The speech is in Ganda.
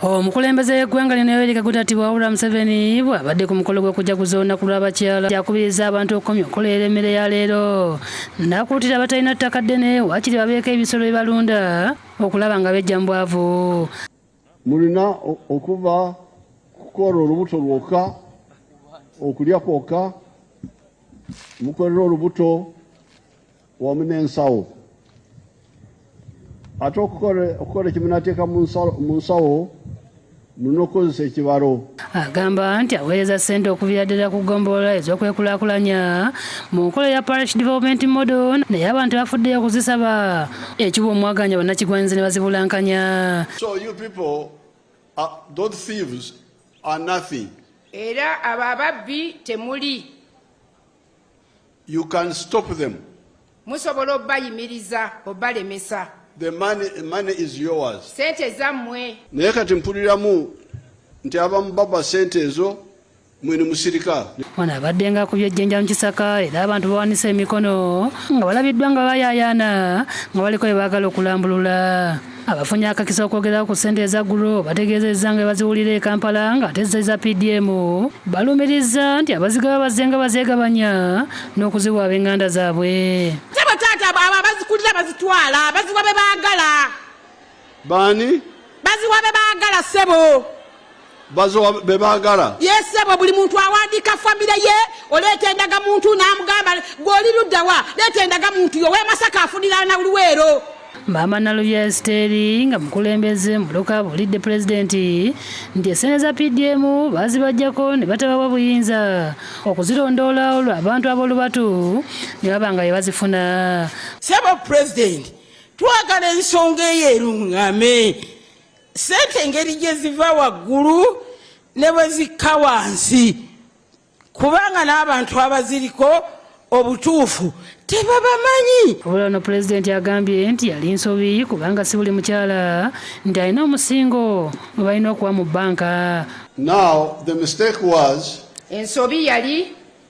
Omukulembeze w'eggwanga lino Yoweri Kaguta Tibuhaburwa Museveni bw'abadde ku mukolo gw'okujaguza olunaku lw'abakyala yakubirizza abantu okukomya okukolerera emmere ya leero n'akuutira abatalina ttaka ddene waakiri babeeko ebisolo bye balunda okulaba nga bejja mu bwavu mulina okuva kukola olubuto lwokka okulya kwokka mukolera olubuto wamu n'ensawo ate okukola ekimunateeka mu nsawo mulina okukozesa ekibalo agamba nti aweereza ssente okuviira ddala ku ggombolola ez'okwekulaakulanya mu nkola ya parish development model naye abantu bafuddeyo okuzisaba ekiwa omwaganya bannakigwanyizi ne bazibulankanya so you people are, those thieves are nothing era abo ababbi temuli You can stop them. Musobola obayimiriza obalemesa. The money, money is yours. Sente zammwe. Naye kati mpuliramu nti abamu baba sente ezo mwene musirika ono abadde nga ku byejjenja mu kisaka era abantu bawanise emikono nga balabiddwa nga bayayaana nga baliko bye baagala okulambulula Abafunye akakisa okwogera ku ssente eza ggulo bategeezezza nga baziwulira e Kampala nga ate zza eza PDM balumirizza nti abazigaba bazze nga bazeegabanya n'okuziwa ab'enganda zaabwe. Sebo taata abo abazikulira bazitwala baziwa be baagala. Baani? Baziwa be baagala ssebo. bazowa bebagala yesebo buli muntu awandika famire ye oleeta endaga muntu namugamba gwoli luddawa leeta endaga muntu yo wemasaka afunira na luweero maama nalubya esiteeri nga mukulembeze mubuluka abulidde pulezidenti nti esente za pdm bazibajjako ne batabawa buyinza okuzirondoola olwo abantu ab'olubatu ne baba nga bye bazifuna sebo pulezidenti twagala ensonga eyo erungame sente engeri gye ziva waggulu ne bwe zikka wansi kubanga n'abantu abaziriko obutuufu tebabamanyi wabula no pulezidenti agambye nti yali nsobi kubanga si buli mukyala nti alina omusingo gwe balina okuwa mu banka now the mistake was ensobi yali